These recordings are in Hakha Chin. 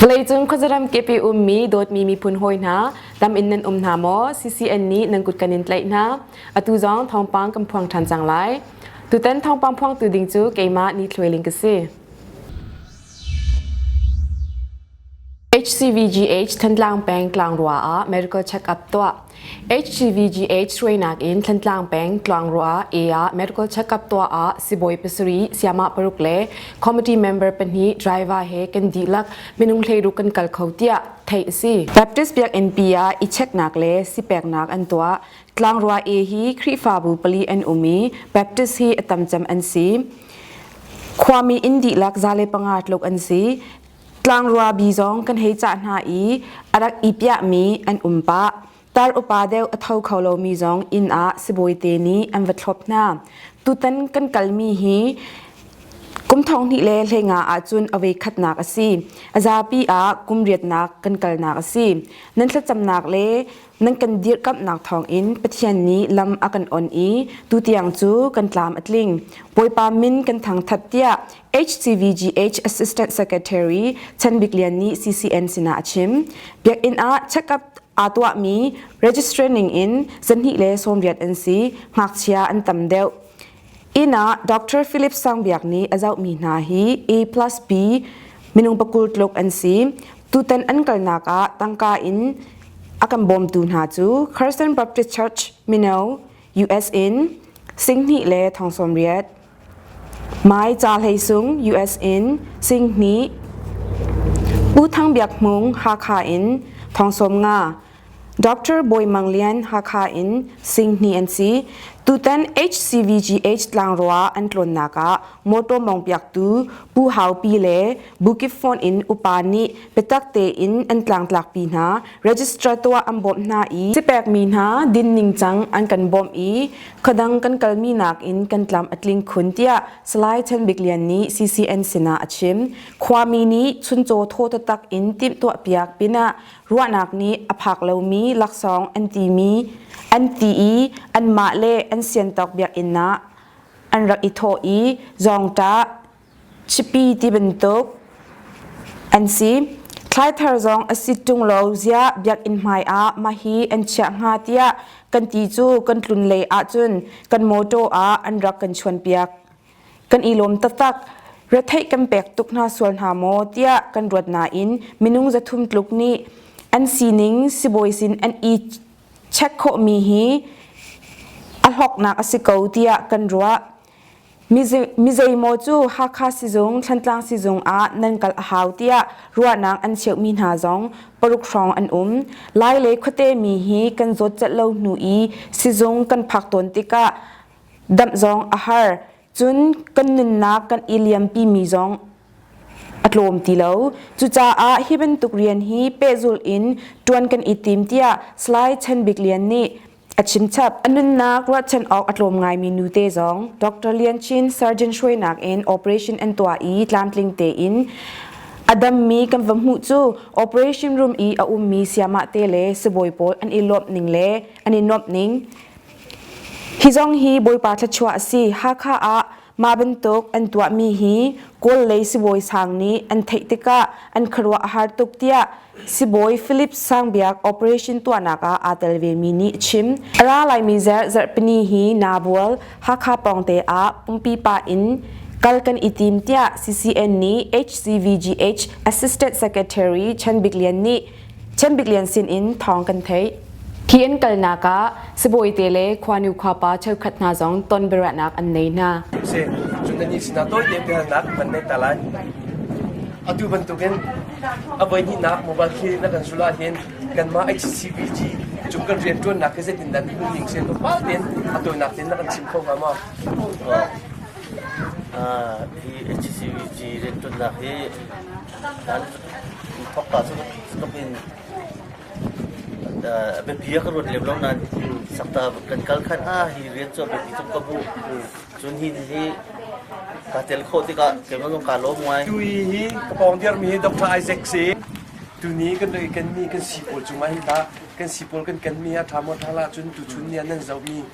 Vawleicung khuazaram kepi ummi dawtmi miphun hawi hna, tam in nan um hna maw? CCN nih nan kut kan in tlaih hna. Atu zong thawngpang kan phuang ṭhan cang lai. Tutan thawngpang phuangtu ding cu keimah Ni Thluai Ling ka si. HCVGH Thantlang peng tlangrua ah medical check-up tuah. HCVGH suainak in Thantlang peng tlangrua e ah medical check-up tuah ah sibawi pasarih, siamah paruk le committee member pahnih driver he kan dihlak minung hleiruk kan kal kho tiah theih a si. Baptist Biakinnpi ah i checknak le sipeknak an tuah. Tlangrua e hi Khrihfabu pali an um i Baptist hi a tam cem an si. Khuami inn dihlak zale panga tluk an si. Tlangruabi zong kan hei cah hna i a rak i piahmi an um pah. Tar upa deuh a tho kho lomi zong inn ah sibawite nih an va thlop hna. Tutan kan kalmi hi kum thong hnih le hleinga ahcun awei khatnak a si. A zapi ah kum riatnak kan kalnak a si. Nan thlacamnak le nan kan dirkamhnak thawngin Pathian nih lam a kan on i tutiang cu kan tlam a tling. Bawipa min kan thangthat tiah HCVGH Assistant Secretary Chan Bik Lian nih CCN sinah a chim. Biakinn ah check-up aa tuahmi registrar ningin zahnih le sawmriat an si. Ngakchia an tam deuh. Inn ah Dr. Philip Sangbiak nih a zohmi hna hi A plus B minung pakul tluk an si. Tutan an kalnak ah tangka in a kan bawmtu hna cu Christian Baptist Church, Mino, US in Singhnih le Thong Sawmriat, Hmaica hleisung US in Singhnih, U Thang Biak Hmung Hakha in Thongsawm Nga, Dr. Bawi Mang Lian Hakha in Singhnih an si. Tutan HCVGH tlangrua an tlawnnak ah mawtaw mawngpiaktu Pu Hau Pi le Bukip Phone in upa nih biatak tein an tlangtlakpi hna. Registrar tuah an bawmh hna i sipekmi hna din ningcang an kan bawmh i Khadang kan kalmi nakin kan tlam a tling khun tiah Salai Chan Bik Lian nih CCN sinah a chim. Khuami nih chuncaw thaw tatak in timhtuah piak pinah ruahnak nih a phak lomi laksawng an timi an ti i anmah le an siantawk biakinnak an rak i thawh i zawngtah Chipi ti bantuk an si. Thlai thar zong a si ṭung lo ziah biakinn hmai ah mah hi an chiah hnga tiah kan ti cu kan tlun lei ahcun kan mawṭaw ah an rak kan chuanpiak. Kan i lawm taktak. Retheih kan pek tuk hna sual hna maw tiah kan ruat nain minung zathum tluk nih an sining sibawi sin an i check khawhmi hi a hlawknak a si ko tiah kan ruah. Mizeimaw cu Hakha sizung, Thlantlang sizung ah nan kal a hau tiah ruahnak an cheuhmi hna zong paruk hrawng an um. Lai le khuate mi hi kan zawt celh lo hnu i sizung kan phak tawn tikah damh zong a har. Cun kan nunnak kan i liampi mi zong a tlawm ti lo. Cucaah hi bantuk rian hi pehzulh in ṭuan kan i tim tiah Salai Chan Bik Lian nih A chimchap a nunnak ruahchan awk a tlawm ngaimi nute zong Dr. Lian Chin surgeon hruainak in operation an tuah i tlamtling tein a dammi kan va hmuh cu operation room i a ummi siamah te le sibawi pawl an i lawmh ning le an i nuamh ning hi zong hi bawipa thluachuah a si Hakha ah mah bantuk an tuahmi hi Kawl lei sibawi sang nih an theih tikah an khuaruah a har tuk tiah Sibawi Philip Sangbiak operation tuahnak ah aa tel vemi nih a chim. A ra laimi zer zarhpini hi Nabual Hakha pawngte ah pumpi pa in kal kan i tim tiah CCN nih HCVGH Assistant Secretary Chan Bik Lian nih Chan Bik Lian sin in thawng kan theih. Khi an kalnak ah sibawite le khuanu khuapa cheukhat hna zong ton biaruahnak an nei hna. Si. Cun nannih sinah tawite biahalnak kan neih ta lai. Atu bantukin a voihnihnak mobile clinic na kan sul ahhin kanmah HCBG cung kan rian ṭuannak hi zeitin dah nun ning sen pa tein a tawinak tein na kan chim kho hnga maw? Ah, hi HCBG rian ṭuannak hi nan thokka cu ka in a biapi ah ka ruat lem lo nain sakta kan kal khan ah hi rian cu a biapi tuk ka hmuh. Cun hi hi kaa tel khawh tikah keimah zong kaa lawm ngai. Tu hi ka pawng dirmi hi Dr. Isaac si. Tuni kan rai kanmi kan sipawl cung ah hin tah kan sipawl kan kanmi a ṭha maw ṭha la cun tuchun ni ah nan zohmi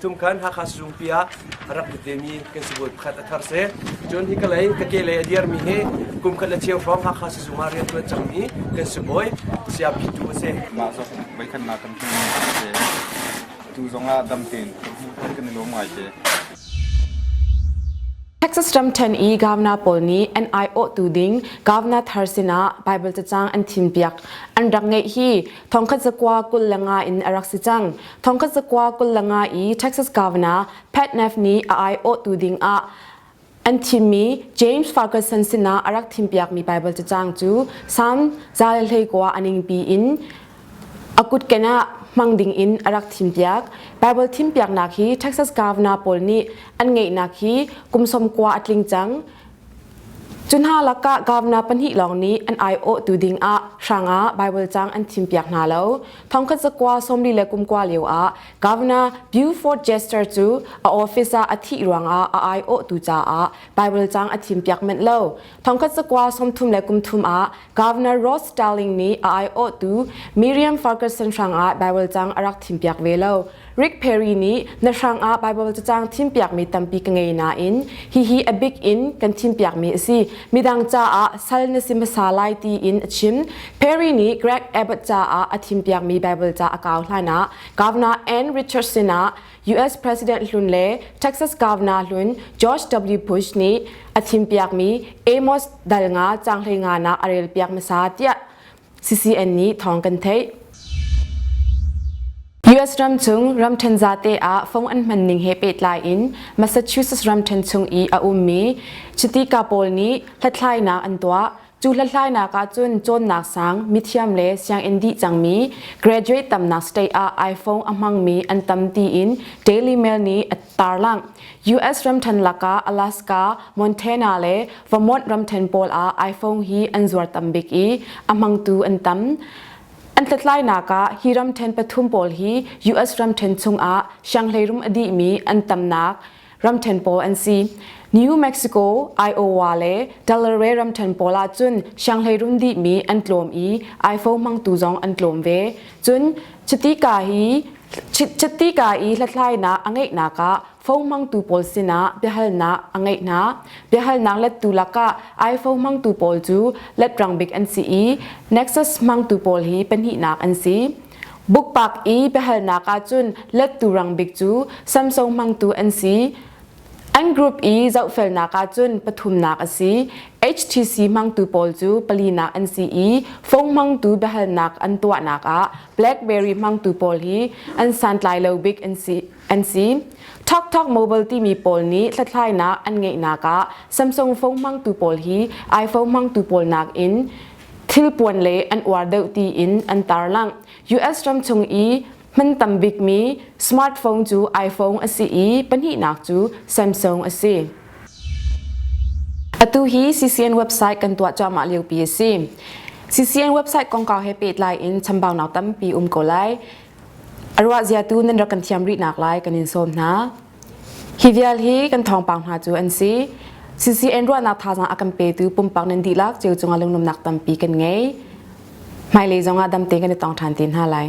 Tumkhan Hakha Sizungpi ah a rak lut vemi kan sibawi pakhat a thar si. Cun hi ka lei ka ke lei a dirmi hi kum khat le chiang hrawng Hakha Sizung ah riantuan cangmi kan sibawi Saya Pitu a si. Mah zong voikhatnak kan hmuh a si. Tu zong ah dam tein kan hmuh kan kan i lawm ngai te. Texas ram ṭhen i gavna pawl nih an aiawhtu ding gavna thar sinah Baibal cacang an thimpiak. An rak ngeih hi thongkhat zakua kul le nga in a rak si cang. Thongkhat zakua kul le nga i Texas gavna Pat Neff nih a aiawhtu ding ah an thimmi James Ferguson sinah a rak thimpiakmi Baibal cacang cu Salm za le hlei kua a ningpi in A kut kenah hmang dingin a rak thimpiak. Baibal thimpiaknak hi Texas Governor pawl nih an ngeihnak hi kum som kua a tling cang. Cu hna lakah governor pahnih lawng nih an aiawhtu dingah hrangah Baibal cang an thimpiak hna lo. Thongkhat zakua sawmli le kumkua lio ah Governor Buford Jester cu a office ah a thih ruangah a aiawhtu caah Baibal cang a thimpiak manh lo. Thongkhat sakwa sawmthum le kumthum ah Governor Rod Starling nih a aiawh tu Miriam Ferguson hrang ah Bible cang a rak thim piak ve lo. Rick Perry nih na hrang ah Bible cacang thim piak mi tampi ka ngei na in hi hi a big in kan thim piak mi a si. Midang ca ah sal na si masa lai ti in a chim. Perry nih Greg Abbott ca ah a thim piak mi Bible ca a kau hlai na Governor Ann Richardson ah US President hlun le Texas Governor hlun George W. Bush nih a thimpiakmi Amos dal nga canghlei nga na a rel piak masa tiah CCN nih thawng kan theih. US ram chung ramthen zate a phong an man ning he pe tlai in Massachusetts ramthen chung i a ummi chitika pawl nih hlathlainak an tuah Cu hlathlainak ah cun cawnnak sang mithiam le sianginn dih cangmi graduate tamnak state ah iPhone a hmangmi an tam tiin Daily Mail nih a tarlangh. US ramthen lakah Alaska, Montana le Vermont ramthen pawl ah iPhone hi an zuar tam bik i a hmangtu an tam. An hlathlainak ah hi ramthen pathum pawl hi US ramthen chungah shanghleirum a dihmi an tamnak ramthen pawl an si New Mexico Iowa le Delaware ramthen pawl ah cun Shanghai rum dih mi an tlawm i Aifo hmangtu zong an tlawm ve cun chitika hi chitika i hlathlainak a ngeihnak ah fong hmangtu pawl sinah biahalnak a ngeih hna biahalnak lettu lakah Aifo hmangtu pawl cu letrang bik an si i Nexus hmangtu pawl hi pahnihnak an si Bukpak i biahalnak ahcun lettu rangbik cu Samsung hmangtu an si. An group i zohfelnak ahcun pathumnak a si. HTC hmangtu pawl cu palinak an si i phone hmangtu biahalnak an tuahnak ah BlackBerry hmangtu pawl hi an santlai lo bik an si. An si. TalkTalk Mobile timi pawl nih hlathlainak an ngeihnak ah Samsung phone hmangtu pawl hi iPhone hmangtu pawl nakin thilpuan le an uar deuh tiin an tarlangh. US ram chung i hman tam bikmi smartphone cu iPhone a si i pahnihnak cu Samsung a si. Atu hi CCN website kan tuah cuahmah liopi a si. CCN website kongkau he pehtlai in chambaunak tampi um ko lai. A ruah ziatu nan rak kan thiam rih nak lai kan in sawm hna. Hi vial hi kan thawngpang hna cu an si. CCN ruahnak thazaang a kan petu pumpak nan dihlak ceu cungah lungnumnak tampi kan ngei. Hmailei zongah damte kan i tong ṭhan te hna lai.